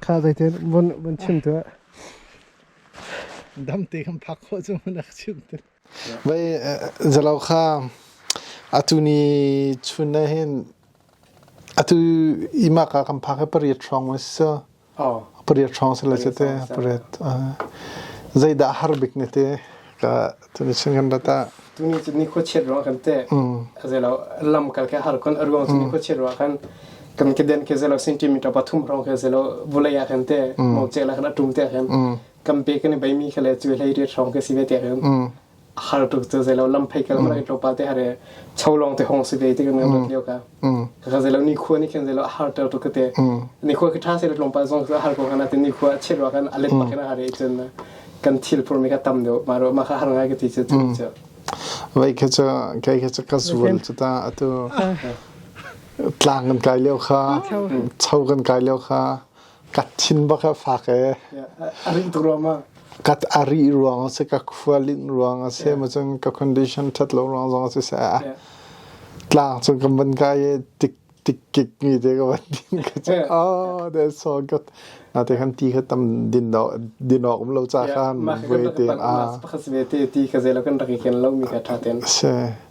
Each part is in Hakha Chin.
Kha zeiten vun vun chim tuah. Dam te kan phak khawh cu mun ak chim te. Vei zalo kha atu ni chun na hin atu imak ka kan phak pariat trong wa so. Oh. Pariat trong se la che te pariat. Zeidah har bik ne te ka Tuni chun kan rat ah. Tuni cu ni khuachiat ruang kan te. Khazelo lam kal ke har kon aruang cu ni khuachiat ruang kan kan ke den ke zelo centimeter pathum rong ke zelo vulai a kan te mo che la kan atum te kan kam pe kan bai mi khale chu hlei ri rong ke si ve te kan har tuk chu zelo lam phai kal ma ro pa te hare chau long te hong si ve te kan kan leo ka Ka zei lo ni khua ni khan zei lo a har ter to ka te. Ni khua khi tha se lo tlom pa zong har ko kana te ni khua a chiat wa kan alet ma kana hare chen na kan thil pur me ka tam do ma ro ma kha har ngai ka ti che che. Vai kha cha kai kha cha ka sual chu ta atu tlang kan kai leo kha chau kan kai leo kha Ka thin bak a fak ee. A rih ruang a si, ka khua linh ruang a si, macun ka condition ṭhat lo ruang zong a si seh. Tlang cu ka van kai i tikkik mi te ka van din ka cu, oh, that's so good. Na te khan ti kha tam din awk um lo ca khan, voi te. Pakhat se ve te, ti ka zei lo kan rak i ken lo mi ka ṭha ten. Si.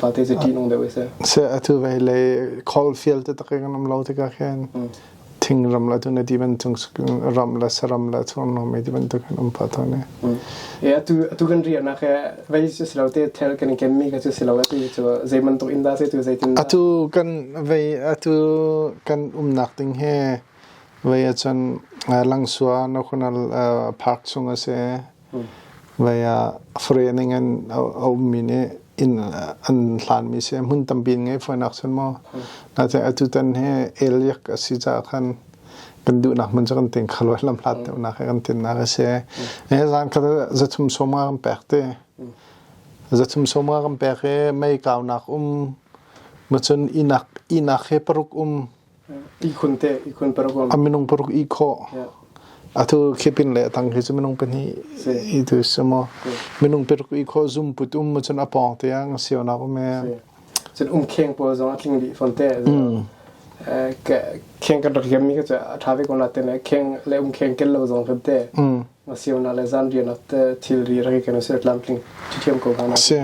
Fate cu ṭihnung deuh isi. Se atu ve le khawl fial te tak kan am lo te ka khen. Thing ram la tu ne di ban chung ram la saram la chur no me di ban tu kan am pha tha ne. E atu atu kan ria na ke vei su silo te thel kan kem mi ka chu silo atu chu zeiman tu inda se tu zeitin Atu kan ve atu kan um nak ding he ve achun lang sua no khonal park chung ase Vai ah fahrening in a ummi nih inn an hlanmi si hmun tampi in ngei fawinak cun maw natein atutan hi eliak a si caah khan kan duhnak hmun cu kan ting kho lo lam hlat deuhnak he kan tinnak a si hi zan kha zathum sawma kan pek ti zathum sawma kan pek i mei kaunak um macun ihnak he paruk um A minung paruk ihkhawh. Atu khipin le tang khi cu minung pahnih i tu si maw. Minung paruk ihkhawh zum put um cun a pawng tiang si onak um e. Cun um kheng pawl zong a tling dih fawn te. Kheng kan rak hiam mi ka cu a tha ve ko na te ne. Kheng le um kheng kel lo zong kan te. Ma si ona le zan rian at thil ri rak kan si tlam tling. Thiam ko gana. Si.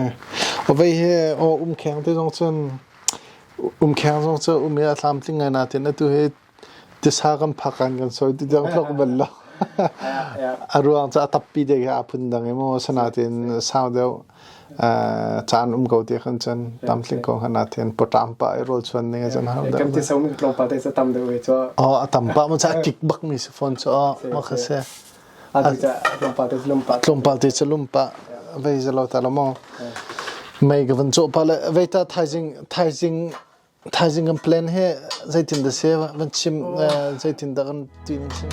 O vei he o um kheng te zong cun Umkheng zong cu um i a tlamtling ngai nain atu hi tisa kan phak ah kan sawi ti deng tlok bal lo. A ruang cu a tappi dek hi aa phun dang i maw asinain sau deuh caan um ko ti kan cun tlamtling ko hnga nain pawṭam pa i rawlchuan ding a cun hau deuh. Kan tisa um tlawmpal te cu tam deuh ve cu. A tam pa maw cu a kik bak mi si fawn cu. Mah kha si. tlawmpal te tlawmpal tlawmpal te cu lumpah vei zelo ta lo maw mei ka van cawh pa le vei ta thaizing thaizing thaizing kan plan he zeitin da se van chim zeitin da kan ti ning sin